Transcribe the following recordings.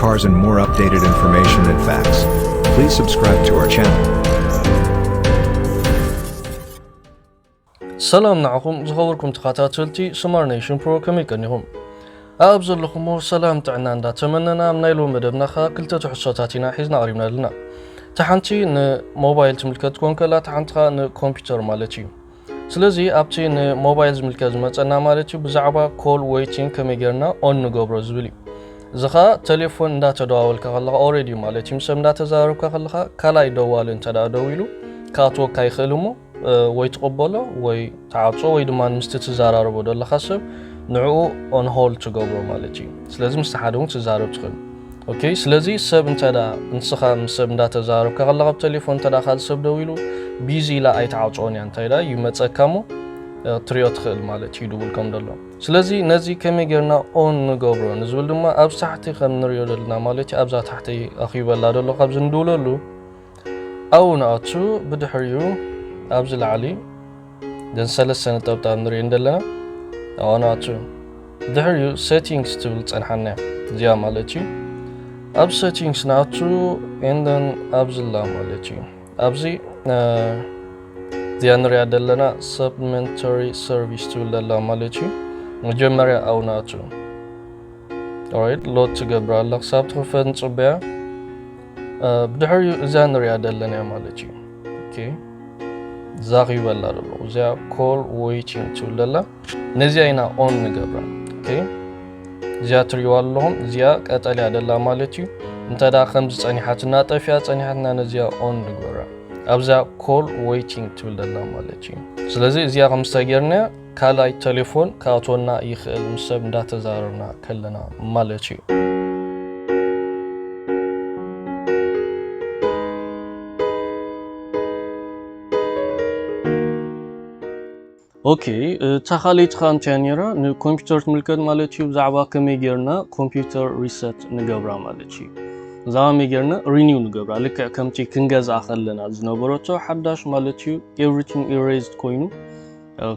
Cars and more updated information and facts. Please subscribe to our channel. ሰላም ንዓኹም ዝኸበርኩም ተኸታተልቲ ስማር ኔሽን ፕሮ ከመይ ቀኒኹም ኣብ ዘለኹሞ ሰላም ጥዕና እንዳተመነና ኣብ ናይ ሎሚ መደብና ኸ ክልተ ትሕዝቶታት ኢና ሒዝና ቀሪብና ኣለና እቲ ሓንቲ ንሞባይል ትምልከት ኮን ከላ እቲ ሓንቲ ኸኣ ንኮምፒውተር ማለት እዩ ስለዚ ኣብቲ ንሞባይል ዝምልከት ዝመጸና ማለት እዩ ብዛዕባ ኮል ዌይቲንግ ከመይ ጌርና ኦን ንገብሮ ዝብል እዩ እዚ ኸኣ ቴሌፎን እንዳተደዋወልካ ከለኻ ኦሬዲ እዩ ማለት እዩ ምስ ሰብ እንዳተዘራረብካ ከለኻ ካልኣይ ደዋሊ እንተ ደኣ ደዊሉ ክኣትወካ ይኽእል እሞ ወይ ትቕበሎ ወይ ትዓጾ ወይ ድማ ምስቲ ትዘራረቦ ዘለኻ ሰብ ንዕኡ ኦን ሆልድ ትገብሮ ማለት እዩ ስለዚ ምስቲ ሓደ እውን ትዛረብ ትኽእል ኦኬ ስለዚ ሰብ እንተ ንስኻ ምስ ሰብ እንዳተዛረብካ ከለኻ ብተሌፎን እንተ ካልእ ሰብ ደዊሉ ቢዚ ኢላ ኣይትዓፅኦን እያ እንታይ ዳ ይመፀካ እሞ ክትሪኦ ትኽእል ማለት እዩ ድውል ከም ደሎ ስለዚ ነዚ ከመይ ጌርና ኦን ንገብሮ ንዝብል ድማ ኣብዚ ታሕቲ ከም ንሪኦ ዘለና ማለት እዩ ኣብዛ ታሕቲ ኣኺበላ ደሎ ካብዚ ንድውለሉ ኣብኡ ንኣቱ፣ ብድሕሪኡ ኣብዚ ላዕሊ እዘን ሰለስተ ነጠብጣብ ንርእየን ዘለና ኣብኣ ንኣቱ። ድሕሪኡ Settings ትብል ትጸንሓና እያ፣ እዚኣ ማለት እዩ። ኣብ Settings ንኣቱ and then ኣብዚ ኣላ ማለት እዩ። ኣብዚ እዚኣ ንሪኣ ዘለና Supplementary Service ትብል ኣላ ማለት እዩ። መጀመርያ ኣብኡ ንኣቱ። ኦራይት ሎድ ትገብራ ኣላ ክሳብ ትኽፈት ንጽበያ። ብድሕሪኡ እዛ ንሪኣ ዘለና እያ ማለት እዩ ኦኬ ዛኺበላ ደሎ እዚኣ ኮል ዌይቲንግ ትብል ደላ ነዚኣ ኢና ኦን ንገብራ ኦኬ እዚኣ ትሪእዋ ኣለኹም እዚኣ ቀጠልያ ደላ ማለት እዩ እንተ ደኣ ከምዚ ጸኒሓትና ጠፊኣ ጸኒሓትና ነዚኣ ኦን ንግበራ ኣብዛ ኮል ዌይቲንግ ትብል ደላ ማለት እዩ ስለዚ እዚኣ ከም ዝተገርና ካልኣይ ተሌፎን ክኣትወና ይኽእል ምስ ሰብ እንዳተዛረብና ከለና ማለት እዩ። ኦኬ እታ ካልኣይቲ ከኣ እንታይ ነይራ ንኮምፒውተር ትምልከት ማለት እዩ ብዛዕባ ከመይ ጌርና ኮምፒውተር ሪሰት ንገብራ ማለት እዩ ብዛዕባ ከመይ ጌርና ሪኒው ንገብራ ልክዕ ከምቲ ክንገዝኣ ከለና ዝነበረቶ ሓዳሽ ማለት እዩ ኤቭሪቲንግ ኢሬዝድ ኮይኑ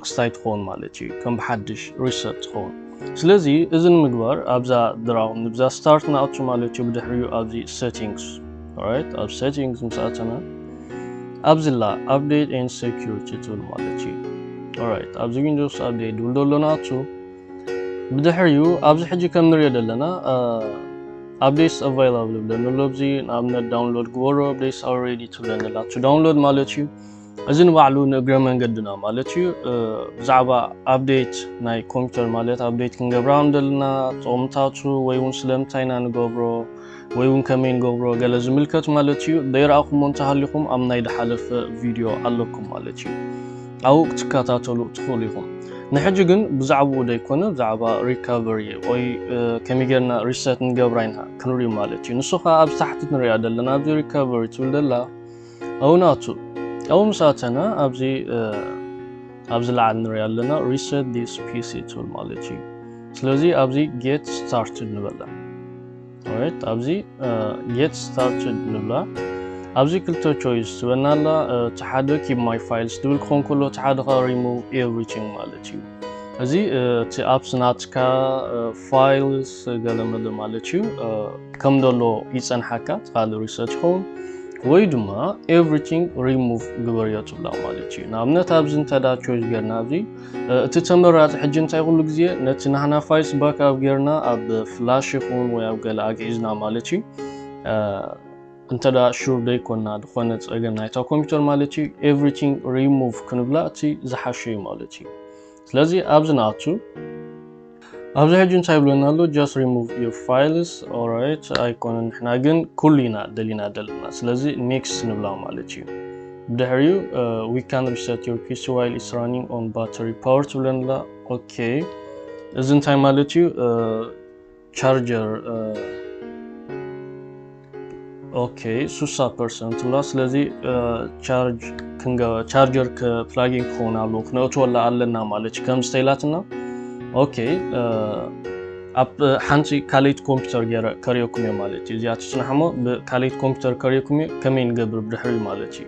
ክስታይ ትኸውን ማለት እዩ ከም ብሓድሽ ሪሰት ትኸውን ስለዚ እዚ ንምግባር ኣብዛ ድራው ንብዛ ስታርት ንኣቱ ማለት እዩ ብድሕሪኡ ኣብዚ ሴቲንግስ ራይት ኣብ ሴቲንግስ ምስ ኣተና ኣብዚላ ኣፕዴት ኤን ሴኪሪቲ ትብል ማለት እዩ ራይት ኣብዚ ዊንዶስ ኣፕዴት ድብል ደሎ ንኣቱ ብድሕሪኡ ኣብዚ ሕጂ ከም ንሪኦ ዘለና ኣፕዴትስ ኣቫይላብል ብለኒ ኣሎ ኣብዚ ንኣብነት ዳውንሎድ ግበሮ ኣፕዴትስ ኣልሬዲ ትብለኒ ኣላ ዳውንሎድ ማለት እዩ እዚ ንባዕሉ ንእግረ መንገድና ማለት እዩ ብዛዕባ ኣብዴት ናይ ኮምፒውተር ማለት ኣብዴት ክንገብራ ከም ዘለና ጥቕምታቱ ወይ እውን ስለምንታይ ኢና ንገብሮ ወይ እውን ከመይ ንገብሮ ገለ ዝምልከት ማለት እዩ ዘይረኣኹሞ እንተሃሊኹም ኣብ ናይ ድሓለፈ ቪድዮ ኣለኩም ማለት እዩ ኣብኡ ክትከታተሉ ትኽእሉ ኢኹም ንሕጂ ግን ብዛዕባኡ ዘይኮነ ብዛዕባ ሪካቨሪ ወይ ከመይ ጌርና ሪሰት ንገብራ ኢና ክንሪኡ ማለት እዩ ንሱ ከዓ ኣብዚ ታሕቲ ንሪኣ ዘለና ኣብዚ ሪካቨሪ ትብል ዘላ እውናቱ ኣብኡ ምስ ኣተና ኣብዚ ኣብዚ ላዕሊ ንሪኦ ኣለና ሪሰት ዲስ ፒሲ ትብል ማለት እዩ ስለዚ ኣብዚ ጌት ስታርትድ ንበላ ኦራይት ኣብዚ ጌት ስታርትድ ንብላ ኣብዚ ክልተ ቾይስ ትበና ኣላ እቲ ሓደ ኪብ ማይ ፋይልስ ትብል ክኾን ከሎ እቲ ሓደ ከዓ ሪሙቭ ኤቭሪቲንግ ማለት እዩ እዚ እቲ ኣፕስ ናትካ ፋይልስ ገለ መለ ማለት እዩ ከም ደሎ ይፀንሓካ እቲ ካልእ ሪሰርች ይኸውን ወይ ድማ ኤቭሪቲንግ ሪሙቭ ግበርዮ ትብላ ማለት እዩ ንኣብነት ኣብዚ እንተዳ ቾይስ ጌርና ኣብዚ እቲ ተመራፂ ሕጂ እንታይ ኩሉ ግዜ ነቲ ናህና ፋይልስ ባክ ኣብ ጌርና ኣብ ፍላሽ ይኹን ወይ ኣብ ገለ ኣግዒዝና ማለት እዩ እንተዳ ሹር ደይኮና ዝኾነ ፀገም ናይታ ኮምፒውተር ማለት እዩ ኤቭሪቲንግ ሪሙቭ ክንብላ እቲ ዝሓሸ እዩ ማለት እዩ ስለዚ ኣብዚ ንኣቱ ኣብዚ ሕጂ እንታይ ይብለና ኣሎ ጀስት ሪሙቭ ዩር ፋይልስ ኦራይት ኣይኮነን ንሕና ግን ኩሉ ኢና ደሊና ዘለና ስለዚ ኔክስት ንብላ ማለት እዩ ብድሕሪኡ ዊ ካን ሪሰት ዩር ፒሲ ዋይል ኢስ ራኒንግ ኦን ባተሪ ፓወር ትብለንላ ኦኬ እዚ እንታይ ማለት እዩ ቻርጀር ኦኬ ሱሳ ፐርሰንት ላ ስለዚ ቻርጀር ፕላጊን ክኸውን ኣለዎ ክነእትወላ ኣለና ማለት እዩ ከም ዝተይላትና ኦኬ ኣብ ሓንቲ ካልይት ኮምፒውተር ገይረ ከሪኦኩም እየ ማለት እዩ እዚኣ ትፅናሕሞ ብካልይት ኮምፒውተር ከሪኦኩም እየ ከመይ ንገብር ብድሕሪ ማለት እዩ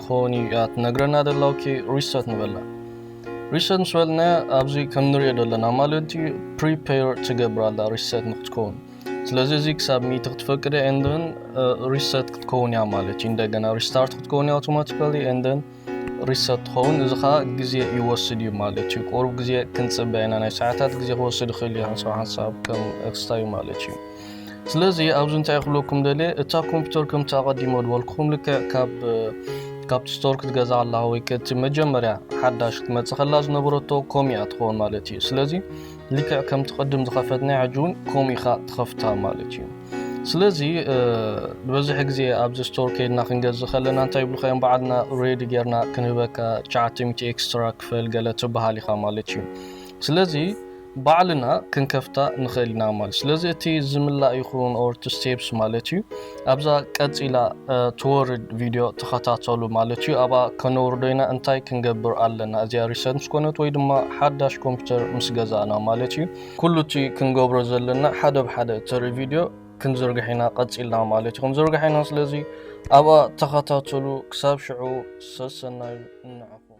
ክኸውን እዩ እያ ትነግረና ደላ ኦኬ ሪሰት ንበላ ሪሰት ምስ በልና ኣብዚ ከም ንሪኦ ዘለና ማለት እዩ ፕሪፔር ትገብር ኣላ ሪሰት ንክትከውን ስለዚ እዚ ክሳብ ሚቲ ክትፈቅደ ኤንደን ሪሰት ክትከውን እያ ማለት እዩ እንደገና ሪስታርት ክትከውን እያ ኣውቶማቲካሊ ኤንደን ሪሰት ትኸውን እዚ ከዓ ግዜ ይወስድ እዩ ማለት እዩ ቁሩብ ግዜ ክንፅበ ኢና ናይ ሰዓታት ግዜ ክወስድ ይኽእል እዩ ሓንሳብ ሓንሳብ ከም ክስታዩ ማለት እዩ ስለዚ ኣብዚ እንታይ ክብለኩም ደልየ እታ ኮምፒውተር ከምቲ ኣቐዲሞ ዝበልኩኹም ልክዕ ካብ ካብቲ ስቶር ክትገዛ ከለኻ ወይ ከቲ መጀመርያ ሓዳሽ ክትመፅእ ከላ ዝነበረቶ ከምኡ እያ ትኸውን ማለት እዩ ስለዚ ልክዕ ከምቲ ቅድም ዝኸፈትናይ ሕጂ እውን ከምኡ ኢኻ ትኸፍታ ማለት እዩ ስለዚ ዝበዝሕ ግዜ ኣብዚ ስቶር ከይድና ክንገዝእ ከለና እንታይ ይብልካ እዮም በዓልና ሬዲ ጌርና ክንህበካ 900 ኤክስትራ ክፈል ገለ ትበሃል ኢኻ ማለት እዩ ስለዚ ባዕልና ክንከፍታ ንክእል ኢና ማለት ስለዚ እቲ ዝምላእ ይኩን or to steps ማለት እዩ ኣብዛ ቀጺላ ትወርድ ቪድዮ ተከታተሉ ማለት እዩ ኣብኣ ከነውርዶ ኢና እንታይ ክንገብር ኣለና እዚኣ recent ምስ ኮነት ወይ ድማ ሓዳሽ ኮምፒተር ምስ ገዛእና ማለት እዩ ኩሉ እቲ ክንገብሮ ዘለና ሓደ ብሓደ እተርኢ ቪድዮ ክንዝርግሕ ኢና ቀጺልና ማለት እዩ ክንዝርግሕ ኢና ስለዚ ኣብኣ ተከታተሉ ክሳብ ሽዑ ሰሰናዩ ንዓኹም